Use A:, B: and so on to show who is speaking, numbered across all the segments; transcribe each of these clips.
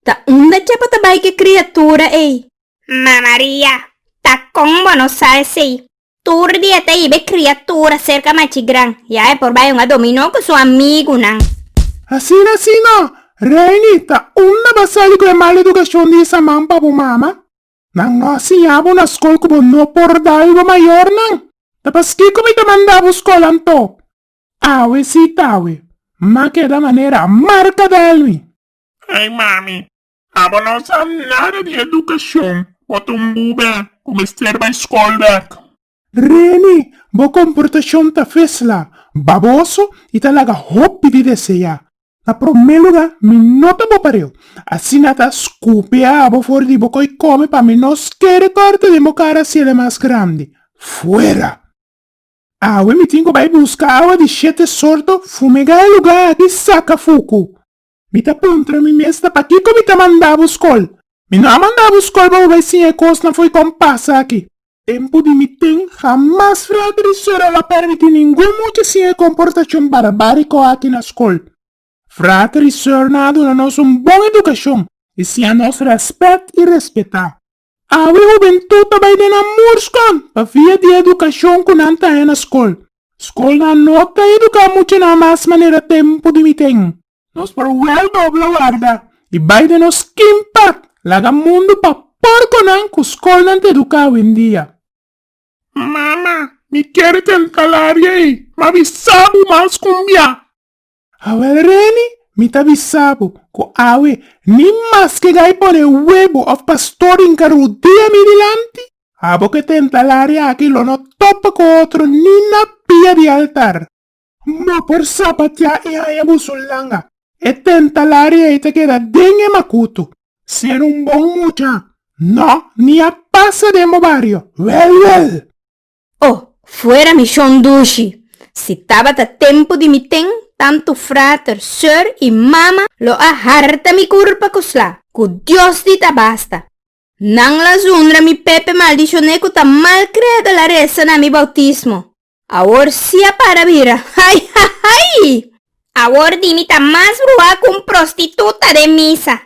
A: Ta unda dje bo ta bai cu e criatura ey? Ma Maria, ta con bo no sa esey? Tur dia ta iba e criatura cerca machi gran, ya e por bai un a domi no cu su amigunan. Asina si no, Reini, ta unda bo a sali cu e mal educacion di esa man pa bo mama? Nan no a siña bo na scol cu bo no por dal bo mayornan? Ta paskico mi ta manda bo scol anto? Awe si tawe. Ma keda manera marca del mi. Ey mami, abo no sa nada di educacion, bo ta un bube cu mester bay scol bek. Reni, bo comportacion ta fesla, baboso y ta laga hopi di desea. Na prome lugar mi no ta bo pareu, asina ta scupe abo for di bo coy come pa mi no scare corte den bo cara si el e mas grandi. Fuera! Awe mi tin ku bai buska awa di shete sorto fumegá e lugá di saka fuku. Mi ta puntra mi mes ta pakiko mi ta manda bo skol. Mi no a manda bo skol pa bo bai siña e kosnan fo'i kon pasa aki. Tempu di mi tin hamas fraka di sora lo a permití ningun mucha siña e komportashon barbáriko aki na skol. Fraka di sornan a duna nos un bon edukashon i siña nos rèspèt i respetá. Awe hubentut ta bai den nan murskon pa via di edukashon ku nan ta haña na skol. Skolnan no ta eduká muchanan mas manera tempu di miten. Nos por wel dobla warda i bai den nos skin pak laga mundu pa porkonan ku skolnan ta eduká awendia. Mama, mi kier tenta labia ei, ma mi sa bu mas kumbiá. Awel Reni, mi ta bisa bo ku awe ni mas ke gai pone webo òf pastor den karu dia mi dilanti. Abo ke tenta laria aki lo no topa ku otro ni na pia di altar. Bo por sapatiá i haña bo su langa. E tenta laria ei ta keda den e makutu. Ser un bon mucha. No, ni a pasa den bo bario. Wèl wèl! Oh, fuera mi shon dushi! Si tabata tempu di mi ten tantu frater, sor i mama lo a harta mi kurpa ku sla. Ku Dios di ta basta. Nan lasundra mi Pepe maldishoné ku ta malkreado la resa na mi bautismo. Awor si a para bira, hai! Hai! Hai! Awor di mi ta mas bruhá ku un prostituta den misa.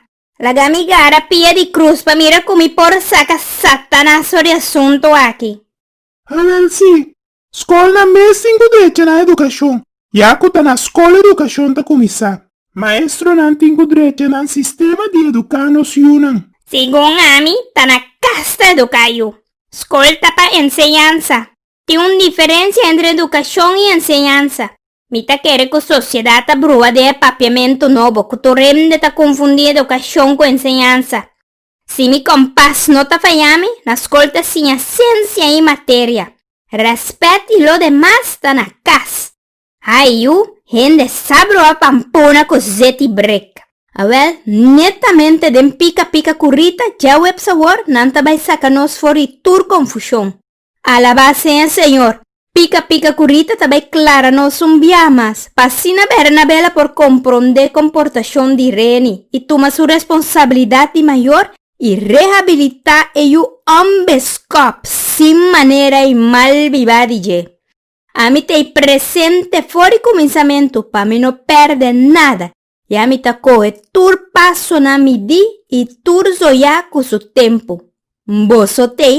A: Laga mi gara pia di cruz pa mira cu mi por saca Satanas for di asunto aki. Awel, Si. Scol na mes tin cu drecha na educacion. Ya cu ta na scol educacion ta cuminsa. Maestronan tin cu drecha na sistema di educa nos yunan. Segun ami ta na cas ta educa yu. Scol ta pa enseñansa. Tin un diferensia entre edukashon i enseñansa. Mi ta kere ku sosiedat ta brua den e papiamentu nobo ku tur hende ta konfundí edukashon ku enseñansa. Si mi kompas no ta fayá mi, na skol ta siña siensia i materia. Rèspèt i lo demas ta na kas. Ai yu, hende sa brua pampuna ku zet i brek. Awèl, netamente den pika pika ku Rita, djaweps awor, nan ta bai saka nos for di tur konfushon. Alabá sea Señor! Pica pica cu Rita ta bay clara nos un bia mas, pa asina bera Nabela por comprondé comportacion di Reni y tuma su responsabilidad di mayor y rehabilitá e yu ombeskop sin manera y mal bibá di dje. Ami t'ey presente for di cuminsamentu pa mi no perde nada I ami ta kohe tur pasonan midí i tur zoyá ku su tempu. N boso t'ei?